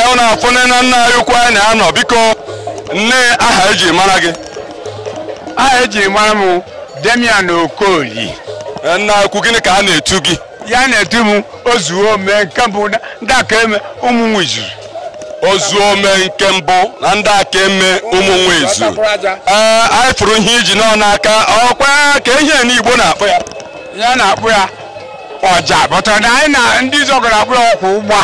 ọ na-afụ nne na nna anyị ukwu anyị na-anọ biko nne aha eji mara gị aha eji mara m demian okoli Eh, nna ukwu gịnị ka a na-etu gị ya na-etu m ozuo ome nke mbụ na- ndị aka eme ụmụ nwejuru ozuo ome nke mbụ na ndị aka eme ụmụ nwa ezu ee anyị fụrụ ihe i ji nọ n'aka ọkwa ka ihe ndị Igbo na-akpọ ya ihe a na-akpọ ya ọja bọtara na anyị na ndị zọgara abụrụ ọkwụ ugbu a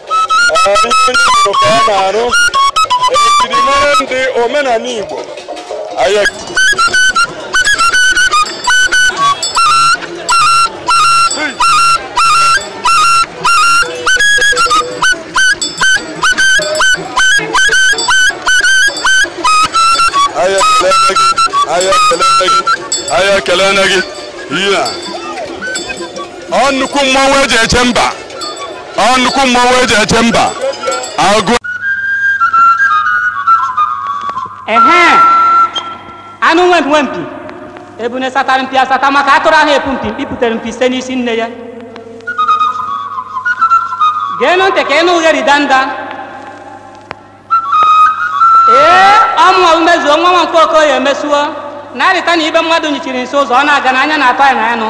onye Igbo ka ọ na-arụ ejirimara ndị omenala Igbo anyị anyị ekele gị ihe a ọ nnukwu mmọnwụ eji eche mba ọ nnukwu mmọnwụ eji eche mba agụ ehe anụ nwe mpi nwe mpi ebune satara mpi asata maka atụrụ aha epu mpi mpi putere mpi site n'isi nne ya geenụ ntị ka ị nụ ughere danda ee ọ mụwa bụ omezuo nwa nwa nke okoye emesuo na-arịta na ibe mmadụ nyichiri nsị ụzọ ọ na-aga n'anya na-atọ ya na anụ